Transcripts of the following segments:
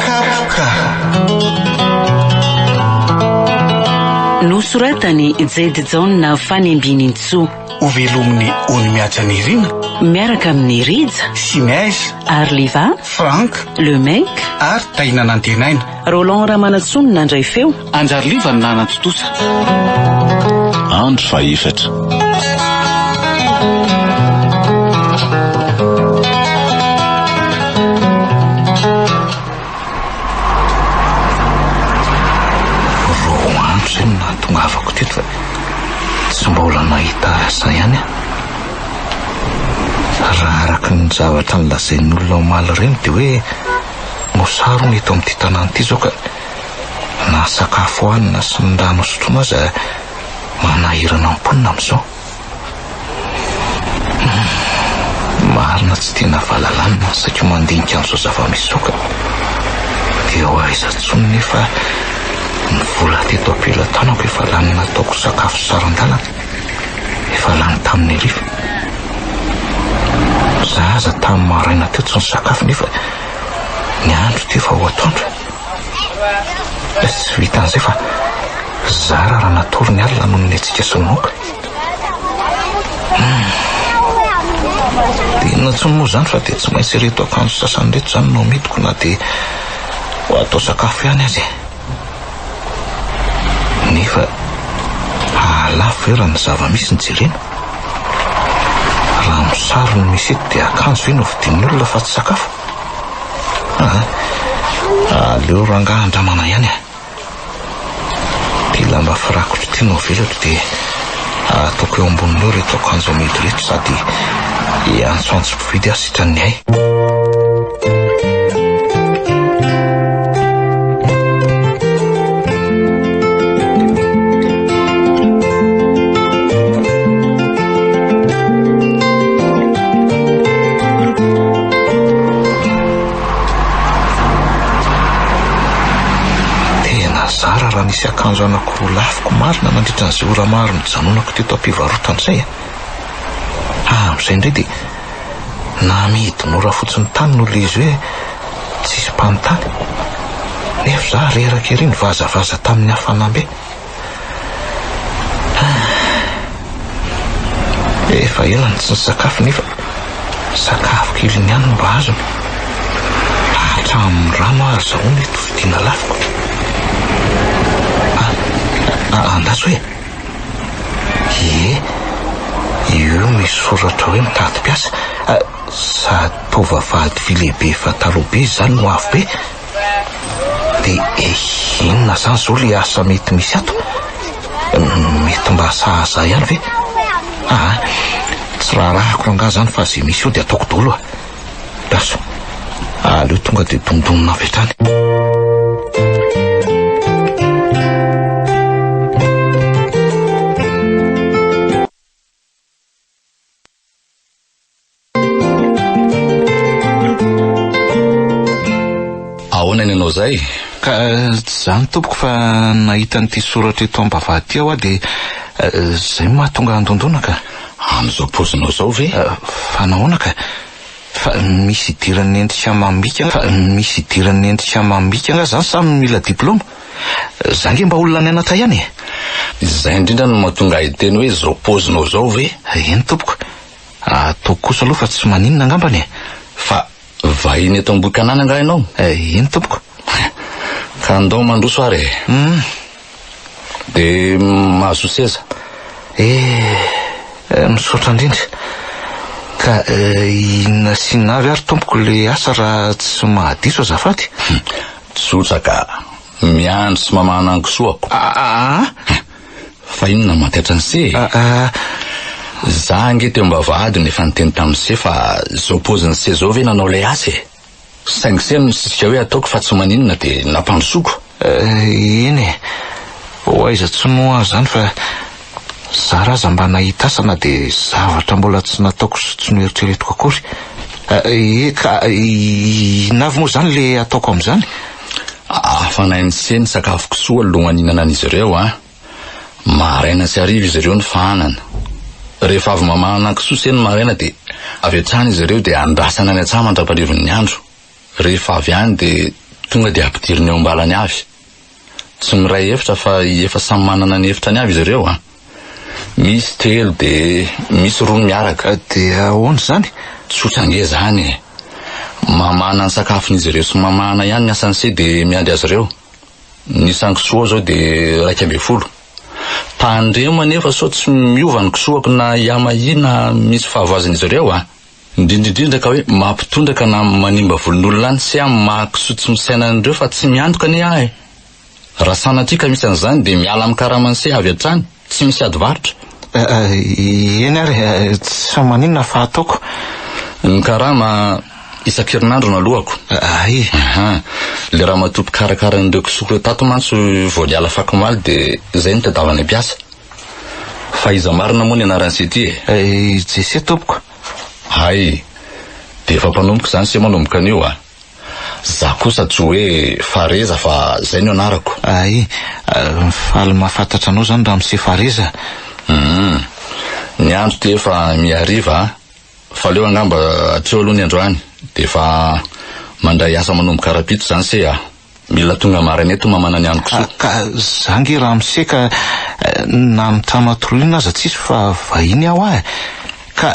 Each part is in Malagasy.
Kapoka. Nosoratan'i Jade Jaona Fanimbianintsoa. Ho velomin'ny ony mihaja Nirina. Miaraka amin'i Rija. Sy Neige. Arliva. Franck. Le Mec. Ary Tahiana Nantenaina. Roland Ramanantsoa no nandray feo. Anjary Liva no nanantontosa. Andro fahefatra. zavatra nilazain'olona omaly ireny dia hoe no sarona eto amin'ity tanàna ity izao ka na ny sakafo hanina sy ny rano hosotroina aza manahirana ny mponina amin'izao. Hmm, marina tsy tena valalanina ny saiko mandinika an'izao zava-misy izao ka dia ho aiza tsony nefa ny vola teto am-pelatanako efa lany nataoko sakafo saran-dalana. efa lany tamin'ny hariva. Izaho aza tamin'ny maraina teo tsy nisakafo nefa ny andro teo efa ho atoandro. Tsy vitan'izay fa zara raha natory ny alina noho ny hetsika sy ny moka. Hmm. Dia inona intsony moa izany fa dia tsy maintsy ireto akanjo sasany ireto izany no amidiko na dia ho atao sakafo ihany aza e. Nefa hahalafo ve raha ny zava-misy no jerena? Raha amin'ny sariny misy eto dia akanjo ve no vidian'olona fa tsy sakafo? Aa! aleo rangahy andramana ihany a! Ity lamba firakotra ity no avelako dia. ataoko eo amboniny eo ireto akanjo amidy ireto sady hiantsoantso mpividy aho sitran'ny hay. Tena zara raha nisy akanjo anako. Ho lafiko marina nandritra an'izay ora maro nijanonako teto am-pivarotana izay a! Haha amin'izay indray dia namidy mora fotsiny tany noho ilay izy hoe tsisy mpanontany. Nefa izaho reraka ery nivazavaza tamin'ny hafanambe. Haha. Efa ela no tsy nisakafo nefa sakafo keliny ihany no mba azony. Hatramin'ny rano aho azahoana eto fidiana lafiko. Ah, andaso e! Ie, io misy soratra hoe mitady mpiasa. Sady tovavady vy lehibe efa taloha be izany no avo be. Dia inona izany izao ilay asa mety misy ato? Mety mba sahaza ihany ve? Ah, tsy raharahako rangaha izany fa izay misy eo dia ataoko daholo ah. Gaso, aleo tonga dia dondonina avy hatrany. Ahoana ny anao zay? Ka zany tompoko fa nahita an'ity soratra eto ambavahady aho dia eh, zay mahatonga handondona ka. Amin'izao paozinao zao ve? Eh, fa nahoana ka? Fa misy idiran'ny endrika amam-bika fa misy idiran'ny endrika amam-bika nga zany sa mila diplôma? Za nge mba olona nianatra ihany e! Izay indrindra no mahatonga ahy hiteny hoe izao paozinao izao ve? Eny tompoko, ataoko kosa aloha fa tsy maninona angambany e! Fa vahiny eto Ambohikanana angaha ianao? Eny tompoko. Ka ndao mandroso ary e! Hum. Dia mahazoa seza. Eh, misaotra indrindra. Ka inona sy inona avy ary tompoko ilay asa raha tsy mahadiso azafady? Tsotra ka. Miandry sy mamaha ny ankisoako. Aa! Fa inona no mampiatra an'i Se e? Aa! Za ange teo am-bavahadiny efa niteny tamin'i Se fa zao paozin'i Se zao ve nanao ilay asa e? Saingy Se no nisisika hoe ataoko fa tsy maninona dia nampandrosoako. Eny e. Ho aiza tsy moa aho izany fa. Zara aza mba nahita asa na dia zavatra mbola tsy nataoko sy tsy noeritreretiko akory. Eka, inona avy moa izany ilay ataoko amin'izany? Hafanain'i Hse ny sakafo kisoa alohan'ny ihinanan'izy ireo an! Maraina sy hariva izy ireo no fahanana. Rehefa avy mamahana kisoa Hse ny maraina dia avy hatrany izy ireo dia andrasana any an-tsaha mandra-paharivin'ny andro. Rehefa avy any dia tonga dia ampidiriny eo am-balany avy. tsy miray efitra fa efa samy manana ny efitrany avy izy ireo a! Misy telo de misy roa ny miaraka. De ahoana izany? Tsotra ange izany e! Mamana ny sakafon'izy ireo sy mamahana ihany ny asan'ny se de miandry azy ireo. Ny isan'ny kisoa ao izao de iraika ambin'ny folo. Tandremo anefa sao tsy miova ny kisoako na hiama ahy na misy fahavoazan'izy ireo a! indrindra indrindra ka hoe mampitondraka na manimba volon'olona any se amin'ny maha kisoa tsy misaina an'ireo fa tsy miantoka anie aho e! raha sanatria ka misy an'izany dia miala amin'ny karamany se avy hatrany, tsy misy ady varotra. Eny ary tsy maninona fa ataoko. Ny karama isan-kerinandro no aloako. Ay! Aha! Ilay ramatoa mpikarakara an'ireo kisoako ireo tato mantsy vao niala fakomaly dia izay nitadiavany mpiasa. Fa iza marina moa ny anaran'i Seti e? I Jesse tompoko. Hay! Dia efa mpanomboka izany se manomboka anio a! Za kosa tsy hoe Fareza fa zay no anarako. Hay! Faly mahafantatra anao izany ramose Fareza a! Hum! Ny andro dia efa mihariva a! Fa aleo angamba hatreo aloha ny androany dia efa mandray asa manomboka rahampitso izany se a! Mila tonga maraina eto mamana ny anoko soa. Ka za nge raha miseka na amin'ny trano atoriana aza tsisy fa vahiny aho ah. Ka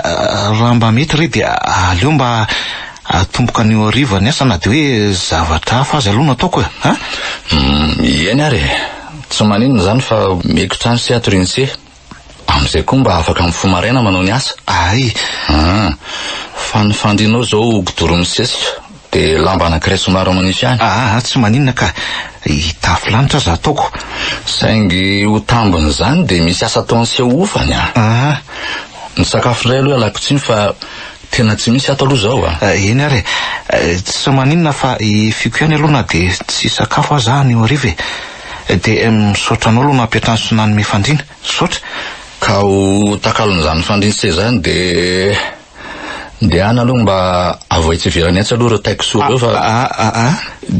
raha mba mety re dia aleo mba atomboka anio hariva ny asa na dia hoe zavatra hafa aza aloha no ataoko e. Ah? Eny ary e. Tsy maninona izany fa meko trano sy atorian'i Che. Amin'izay koa mba afaka mifoha maraina manao ny asa? Ay! An! Fa ny fandrianao izao ho kidoroin'ny sesika, dia lamba anankiray somary manify ihany. Aa tsy maninona ka! Hitafy lanitra aza ataoko. Saingy ho tambin'izany dia misy asa ataon'ny seho hofany an! Aa! Ny sakafo indray aloha ialako tsiny fa Tena tsy misy ato aloha izao a! Eny ary e! Tsy maninona fa hifiako ihany aloha na dia tsy hisakafo aza aho anio hariva e! Dia misaotra anao aloha nampiantrano sy nanome fandriana. Misaotra! Ka ho takalon'izany fandriana sy seza izany dia dia any aloha mba avoay tsy hiverany etsy aloha ireo taiko soa ireo fa Aa!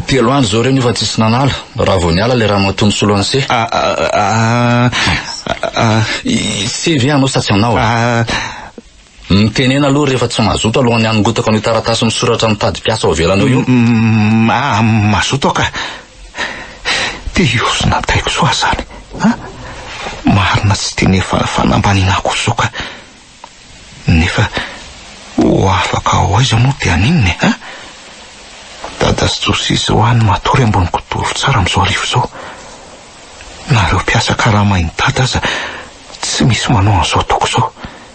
Telo andro izao ireo nefa tsisy nanala, raha vao niala ilay ramatoa nisolo an'ise. Aa! Aa! Ise ve ianao sa tsy ianao e? Aa! Mitenena aloha rehefa tsy mazoto alohan'ny hanongotako an'io taratasy misoratra mitady mpiasa ao ivelany ao io. Ah, mazoto aho ka. Dia io sy nataiko soa izany. Ah, marina tsy tiany fa fanambaniana akory izao ka. Nefa ho afaka ho aiza moa dia haninona e? Ah, dada sy Josia izao any matory ambony kidoro tsara amin'izao arivo izao. Na ireo mpiasa karamain'i dada aza tsy misy manao an'izao ataoko izao.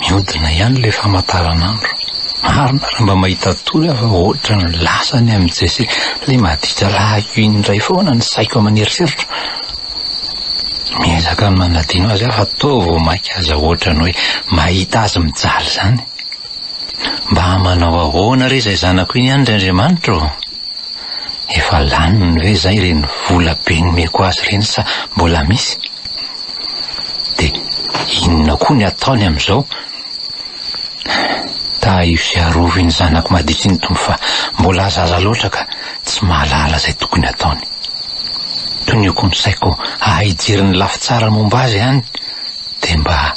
Miodina ihany ilay famataranandro. Marina raha mba mahita tory aho fa ohatran'ny lasa ny amin'i Jesse. Ilay maditra lahiko iny indray foana ny saiko amin' ny eritreritra. Miezaka ny manadino azy aho fa toa vao mainka aza ohatran'ny hoe mahita azy mijaly izany. Mba manao ahoana re izay zanako iny any ry Andriamanitra ô? Efa laniny ve izay ireny vola be nomeko azy ireny sa mbola misy? dia inona koa ny ataony amin'izao? Tahio sy arovy ny zanako madity ny Tompo fa mbola zaza loatra ka tsy mahalala izay tokony ataony. Toniako ny saiko hahay hijery ny lafy tsara momba azy any dia mba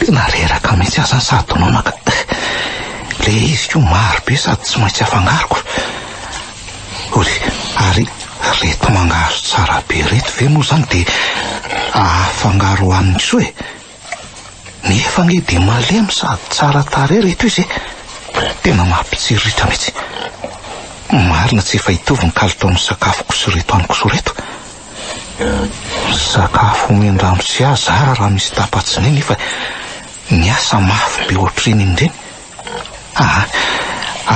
Tena reraka mihitsy aza ny sadonona ka. Le izy ko maro be sady tsy maintsy afangaroko. Ory, ary reto mangahazo tsara be reto ve moa zany de afangaro aminy soa e? Nefa anie dia malemy sady tsara tarehy ry toizy e! Tena mampitsiriritra mihitsy. Marina tsy efa hitovy ny kalitaon'ny sakafoko sy ireto amiko sy ireto. Sakafo omen-dRamose ahy zara raha misy tapa-tsinay nefa ny ahy sa mafy be ohatry ireny indreny. Aa,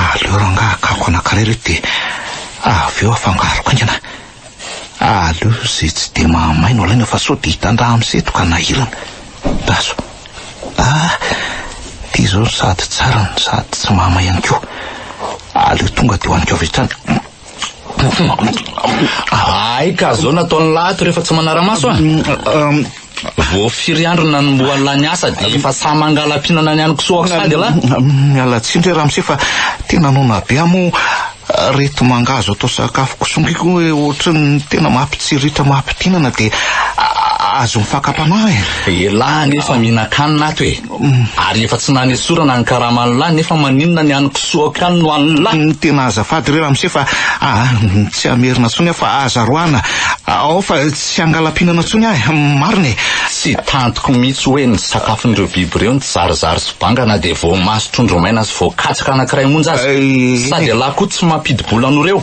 aleo rangaha hakako anankiray ireto dia avy eo afangaroko aingana. Aleo izay tsy dia mahamay no alaina fa sao dia hitandraha amin'ny seto ka nahirana. Daso, ah, ity izao sady tsara no sady tsy mahamay ihany koa. Aleo tonga dia hohaniko avy hatrany. Ay ka, zao nataon'ny lahy ato rehefa tsy manara-maso an. Vao firy andro nanombohan'lah niasa dia efa sahy mangala-pihinana ny an'i Kisoa aho saingy lah. Miala tsiny re Ramose fa tena noana be aho moa reto manga azo atao sakafo kisongiko hoe ohatry ny tena mampitsiritra mampidinana dia azon'ny fakam-panahy. Elah anie efa mihinan-kanina ato e. Ary efa tsy nanesorana ny karama an'lah nefa maninona ny an'ny kisoako ihany no an'lah? Tena azafady re ramose fa tsy hamerina tsony aho fa aza roahana ao fa tsy hangalampihinana tsony aho e! Marina e! Tsy tantiko mihitsy hoe ny sakafon'ireo biby ireo ny jarizary sy banga na dia voamaso trondro maina sy voakatsaka anankiray monja aza. Sady ialahy koa tsy mampidi-bola an'ireo.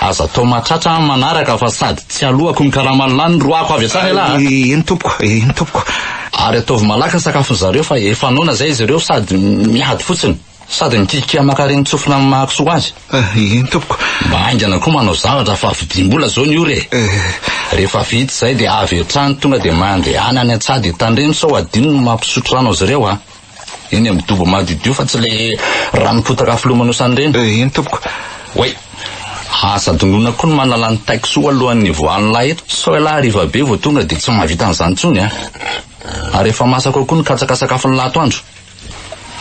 Aza atao mahatratra aho ny manaraka fa sady tsy alohako ny karama an'lah no roahako avy hatrany ialahy a! Eny tompoko, eny tompoko. Ary ataovy malaky ny sakafon'ny zareo fa efa noana zay izy ireo sady miady fotsiny. Sady mikiakiaka maka reny tsofina amin'ny maha kisoa azy. Ah, eny tompoko. Mba haingana koa manao zavatra fa vidim-bola zao ny ora e. Eh. Rehefa vita zay dia avy hatrany tonga dia mandehana any an-tsaha dia tandremo sao adino ny mampisotro rano azy ireo a. Eny amin'ny dobo madiodio fa tsy ilay ranom-potaka filomanosana ireny. Eh, eny tompoko. Way. Asa dondrona koa ny manala ny taiko soa alohan'ny hivoahan'ny lahy eto. Sao ialahy hariva be vao tonga dia tsy mahavita an'izany intsony an. Ary efa masaka ao koa ny katsaka sakafon'ny lahatoandro.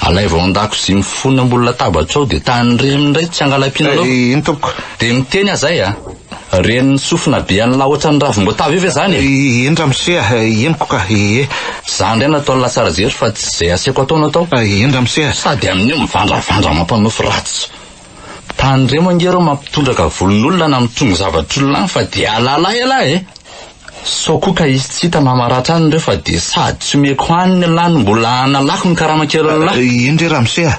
Alaivo ao an-dakozia mifono ambony latabatrao dia tahin'ny reny indray tsy hangalam-pihinanao. Eh, eny tompoko. Dia miteny aho izay an. Ren'ny sofina be an'la ohatran'ny ravim-boatavo io ve zany e? Eny ramose a, henoko ka, ee. Za ndray nataon'i Latsarajery fa tsy zay aseko atao no atao. Eny ramose a. Sady amin'io mivandravandra mampanofy ratsy. Tandremo ange reo mampitondraka volon'olona na mitrongy zavatr'olona any fa de alalay ialahy e! Sao koa ka izy tsy hita na maratra any ireo fa dia sady tsy omeko hanina lahy no mbola analako ny karama kelin'ny lahy. Eny re ramose a!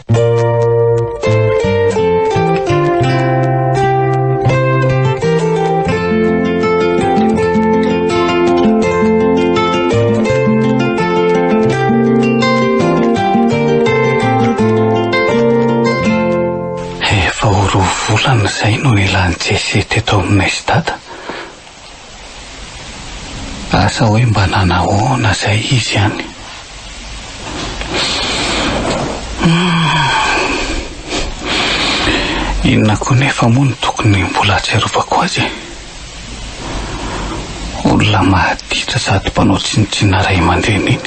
Efa ho roa volana izay no nilan'i Jesse teto aminay sy Dada. Asa hoe mba nanahoana izay izy any? Humm. Inona koa nefa moa no tokony mbola ahatsiarovako azy e? Olona mahatitra sady mpanao tsinontsinona ray aman-dreny iny.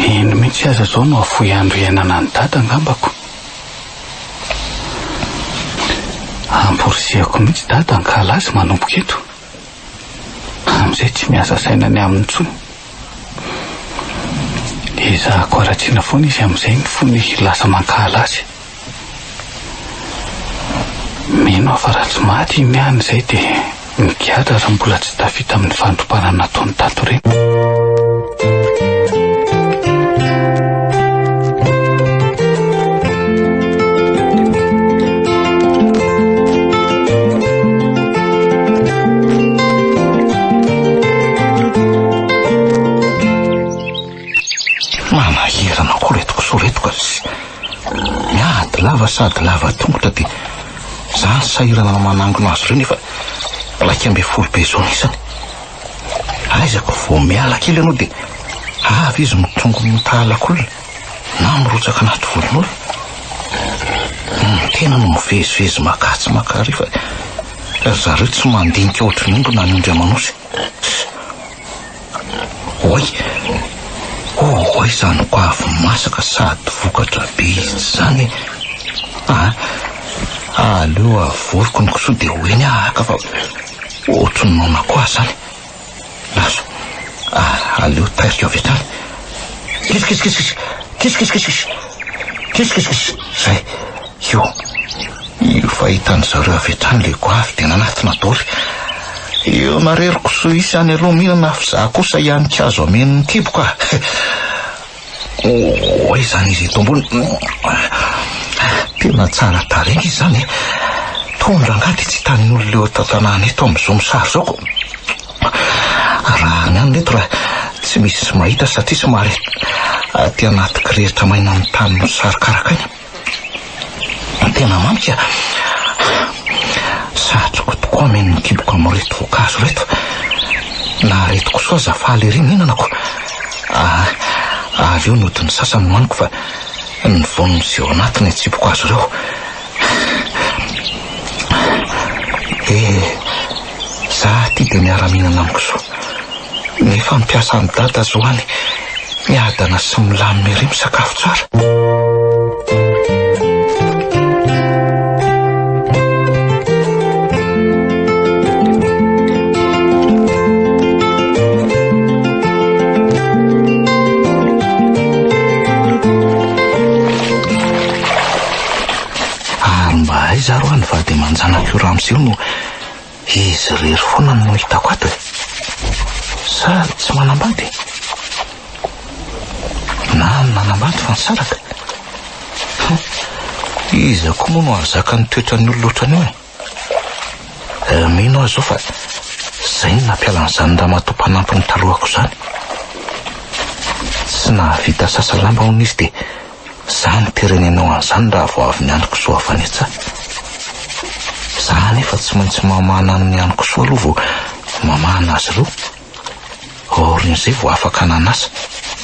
Iny mihitsy aza zao no afoy andro iainana any dada angambako. Amporisihako mihitsy dada ankalazy manomboka eto. Amizay tsy miasa saina ny aminy intsony. Ezahako aratsiana foana izy amizay ny fony lasa mankahala azy. Mino aho fa raha tsy maty i Miana izay dia migadra raha mbola tsy tafita amin'ny fandrobana nataony tato aoriana. Miady lava sady lava tongotra dia za sahirana manangona azy ireo nefa iraika ambin'ny folo be zao isany. Aizako vao miala kely ianao dia avy izy mitrongo mitalakolona na mirotsaka anaty volon'olona. Ny tena no mivezivezy makà tsy makà ary fa ry zareo tsy mandinika ohatry ny omby na ny ondry aman'osy. Oay! Oay izany goavy masaka sady vokatra be izy izany e! Aa! aleo avoriko ny kisoa dia ho eny aho haka fa ohatry ny noana koa izany. Lazo! aleo tairiko avy hatrany. Kiss kiss kiss kiss! Kiss kiss kiss kiss! Kiss kiss kiss! Izay! Io, io fahitany zareo avy hatrany ilay goavy dia nanatona doly. Io narery kisoa hisy any aloha mihinana avy za kosa hianika azo hameno ny kiboko ah. Oh, izany izy eto ambony. Tena tsara tarehy izy izany eh. Tony rangahy dia tsy hitan'ny olona eo an-tantanàna eto amin'izao misary izao ko. Arahana any eto raha tsy misy mahita satria somary aty anaty kirihitra maina amin'ny tany misary karakaina. Tena mamika a! Satriko tokoa mihaino ny kiboka amin'ireto voankazo ireto. Na ireto kosoa aza faly ery mihinana ko. Avy eo ny hodin'ny sasany nohaniko fa ny voany sy eo anatiny atsipiko azy ireo. Izaho ity dia miara-mihinana amin'i Zo. Ny fampiasa an'i Dada Zo any miadana sy milamina ery misakafo tsara. Ary mba aiza ary ho'a ny vady aman-janak'io ramose io no Izy irery foana no hitako ato e! Sa tsy manambady e? Na nanambady fa nisaraka? Hum, iza koa moa no hahazaka ny toetran'ny olona ohatran'io e? Eh, mino aho izao fa izay no nampiala an'izany ramatoa mpanampiny talohako izany. Tsy nahavita sasa lamba hono izy dia Za no mpirenena anao an'izany raha vao avy ny androko soa avy any an-tsaha. Za anefa tsy maintsy mamahana ny androko soa aloha vao mamahana azy ireo. Aorian'izay vao afaka nanasa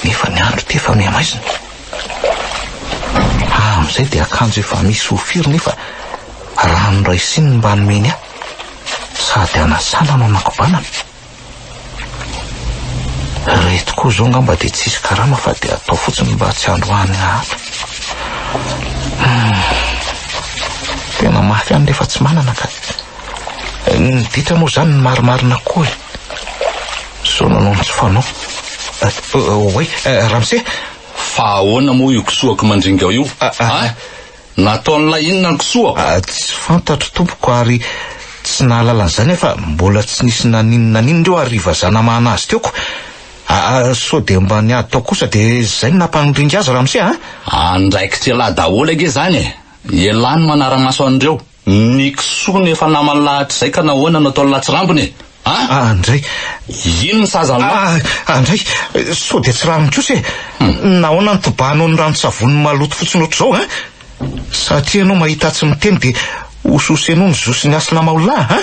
nefa ny andro ity efa mihamaizina. Ahy amin'izay dia akanjo efa misy ho firy nefa rano iray siny no mba nomeny ahy. Sady hanasana no hanakobanana. Ireto koa izao angamba dia tsy hisy karama fa dia atao fotsiny mba tsy handroahana ato. Hmm. Tena mafy ihany rehefa tsy manana ka. Eh, ny ditra moa izany ny marimarina koa e. Zao nanao ny tsy fanao. Oay, eh, eh, Ramse, Fa ahoana moa io kisoako mandringao io? Ah, ah. ah. Nataon'ilay inona ny kisoa? Tsy fantatro tompoko ary tsy nahalala an'izany aho fa mbola tsy nisy nanino na n'inona ireo ary vazaha namahana azy teo ko. Aa sao dia mba niady tao kosa dia izay no nampanoringa azy ramose a! Andraikitr'elah daholo ange izany e! Elah no manara-maso an'ireo. Ny kisoa no efa namany lahatrizay ka nahoana no atao latsirambina e? A! Ah ndray! Ino ny saza anao? Ah! Ah ndray! Sao dia tsy rariny kosa e? Nahoana no tobahanao ny ranon-tsavony maloto fotsiny ohatr'izao a? Satria ianao mahita tsy miteny dia hososenao ny zo sy ny hasina maolahy a!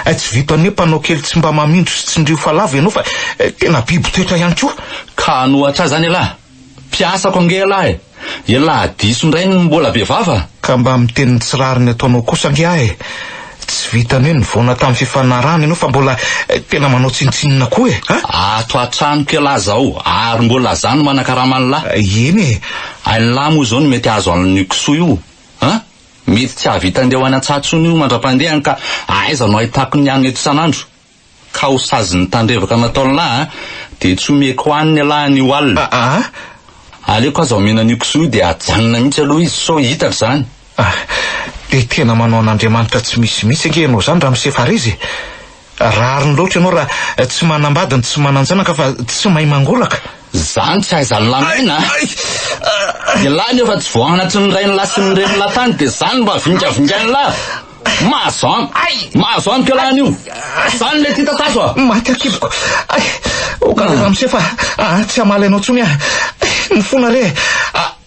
Eh, tsy vitan'ny hoe mpanao kely tsy mba mamindro sy tsindrio fa lavo ianao fa tena biby toetra ihany koa! Ka hanohatra ahy izany ialahy? Mpiasako ange ialahy e! Ialahy diso indray no mbola be vava? Ka mba miteny ny tsy rariny ataonao kosa ange aho e! Tsy vitan'ny hoe nivoana tamin'ny fifanarahana ianao fa mbola tena manao tsinontsinona koa e! A! Ato an-tranoko ialahy izao ary mbola izaho no manakarama an'lah. Eny e! Ain'lah moa izao no mety hahazo an'io kisoa io a! Mety tsy hahavita andeha ho any an-tsaha intsony io mandra-pandehany ka aiza no ahitako ny hanina eto isan'andro? ka ho sazin'ny tandrevaka nataon'lah dia tsy omeko haniny elah an'io alina. Aa! Aleoko aza omena an'io kisoa io dia hajanona mihitsy aloha izy sao hitako izany. Aa! Dia tena manao an'Andriamanitra tsy misy mihitsy ange ianao izany Ramisefareza e! Rariny loatra ianao raha tsy manambady ny tsy manan-janaka fa tsy mahay mangolaka. Izany tsy ahaizan'ny lahy miaina a! Ny lahy nefa tsy vao anatry ny rain'lah sy ny renin'lah tany dia izany no maha vingavingain'lah! Mahazo an! Ay! Mahazo an kela anio! Zany le tita tazo a! Maty akiboko! Ay! O kala ramose fa ah, tsy hamaly anao tsony ah! Ay! Ny fona re!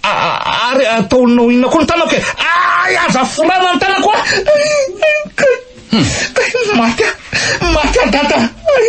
Ary ataonao inona koa ny tanako e! Ay! Aza forana ny tanako ah! Ay! Ay! Maty ah! Maty ah dada! Ay!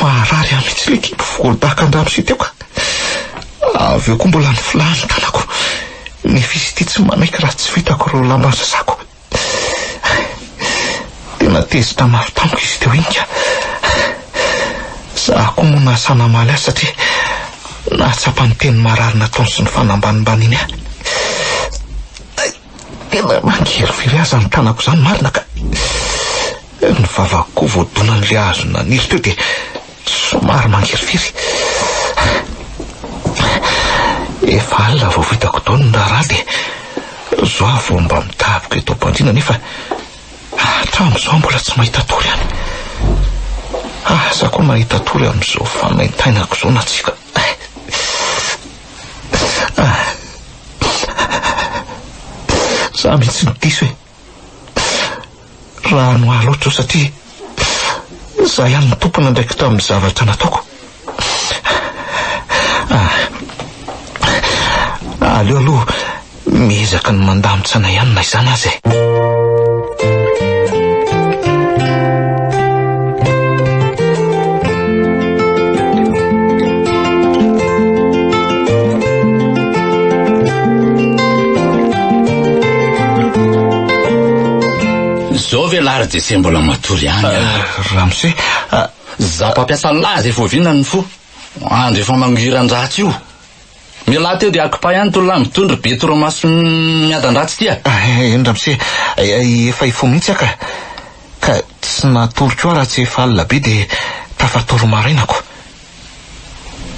Maharary ahy mihitsy ilay kibo voadaka an-dramose teo ka. Avy eo koa mbola niflaha ny tanako. Nefisitia tsy manaiky raha tsy vitako ireo lamba sasako. Tena tezitra mafy tamiko izy teo iny ka. Za koa moa nasa namaly azy satria nahatsapa ny teny marary nataony sy ny fanambanimbaniany ahy. Tena mangery firy aza ny tanako izany marina ka ny vavako koa vao donan'ilay hazo naniry teo dia somary mangery firy. Efa alina vao vitako daholo ny raharaha dia zao aho vao mba midaboka eto am-pandriana nefa hatramin'izao mbola tsy mahita tory any. Asa koa mahita tory amin'izao fanaintainako izao na tsia ka. Za mihitsy no diso e. Raha noa loatra satria za ihany no tompona andraikitra amin'ny zavatra nataoko. Ah. Aleo aloha Miezaka ny mandamin-tsaina ihany na izany aza e. Zao ve lary de se mbola matory ihany ah? ah, Ramose, ah, za mpampiasa laza efa oviana ny fo. Andro efa mangiran-dratsy io. Mialà teo dia akipay any tolona any mitondra be torimaso miadan-dratsy ity a! Eny ramose, efa hifoha mihitsy aho ka. Ka tsy natory koa aho raha tsy efa alina be dia tafatory marainako.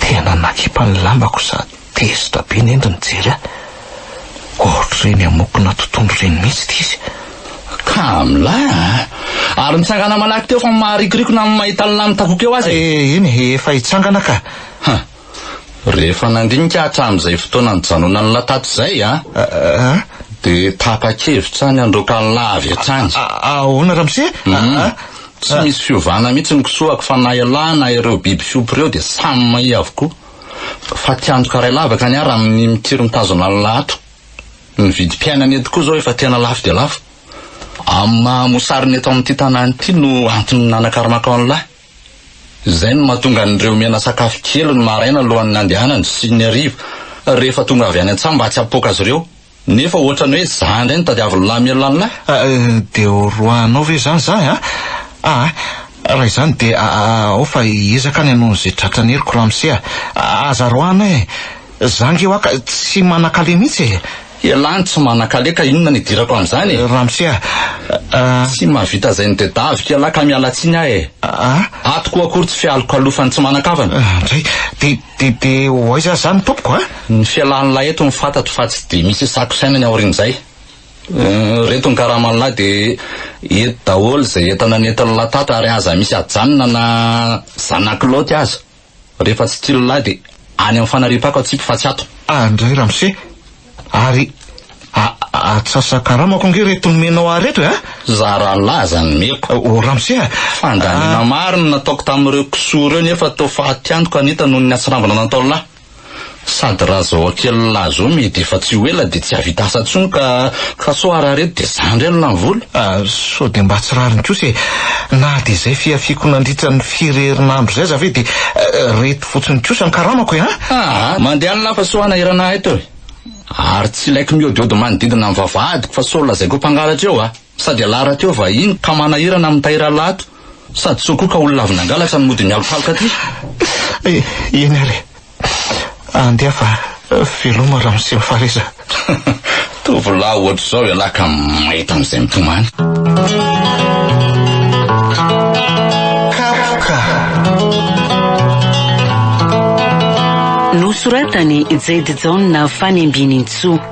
Tena nakipa ny lambako sady tezitra be ny endriny nijery ahy. Ohatr'ireny amokona totohondry ireny mihitsy ity izy. Kamla a! Ary nitsangana manaky teo fa maharikoriko na ny mahita ny lahy mitakoka eo aza e! Eny e, efa hitsangana ka. Rehefa nandinika hatramin'izay fotoana nijanonany lahy tato izay an, dia tapa-kevitra ny handroaka ny lahy avy hatrany. Ahoana ramose? Tsy misy fiovana mihitsy ny kisoako fa na ialahy na ireo biby fiompy ireo dia samy mahia avokoa. Fa te-handoka ray lavaka ny ahy raha minia mitiry mitazona ny lahy ato. Ny vidim-piainana eto koa izao efa tena lafo dia lafo. Amin'ny maha-mosarina eto amin'ity tanàna ity no antony nanakaramako an'ilay. Izay no mahatonga an'ireo miana sakafo kely ny maraina alohan'ny nandehanany sy ny hariva rehefa tonga avy any an-tsaha mba tsy hampipoaka azy ireo. Nefa ohatrany hoe zah indray no tadiavin'lah mialoha an'lah. Dia ho roahinao ve izany zah an? Aa, raha izany dia ao fa hiezaka ny hanao an'izay tratran'ny heriko ramose a! Aza roahina e! Zanga eo aka tsy manakale mihitsy e! Elah ny tsy manakale ka inona ny idirako amin'izany e! Ramose a! Tsy mahavita izay ny dia daviko elah ka miala tsiny aho e! Ato koa akory tsy fialokalofan'ny tsy manan-kavana! Indray! De, de, de ho aiza izany tompoko a? Ny fialan'ilahy eto no fantatro fa tsy dia misy hisakosaina ny aorian'izay. Ireto ny karaman'ilahy dia eto daholo izay entana nentin'ilahy tato ary aza misy ajanona na zanak'i Lôty aza. Rehefa tsy tia lehilahy dia any amin'ny fanariam-pako atsipy fa tsy ato. Ah ndray ramose ary a atsasakaramako ange reto nomenao ahy reto e a! Zara lahy aza ny meko. Oh ramose a! Fandaniana maro no nataoko tamin'ireo kisoa ireo nefa toa faty antoka ny entana noho ny hatsirambina nataon'lah. Sady raha zao akelin'lah zao meh de efa tsy ho ela de tsy hahavita asa tsony ka ka sao arahareto de zandry any lany vola. Ah, sao de mba tsy rariny kosa e! Na de zay fihafiako nandritra ny firy herinandro zay aza ve de reto fotsiny kosa ny karamako e an! Aa, mandeha any lah fa sao hanahirana ahy teo e! Ary tsy ilaiko miodiody manodidina ny vavahadiko fa sao lazaiko ho mpangalatra eo ah! Sady ialahy rahateo vahiny ka manahirana amin'ny tahiry alato sady soa koa ka olona avy nangalatra no mody mialokaloka aty. Eh, eny ary eh. Andeha fa veloma ramose Fareza. Tovolahy ohatr'izao ialahy ka mahita an'izay mitomany. Kapoka. Nosoratan'i Jade Jaona Fanembinintsoa.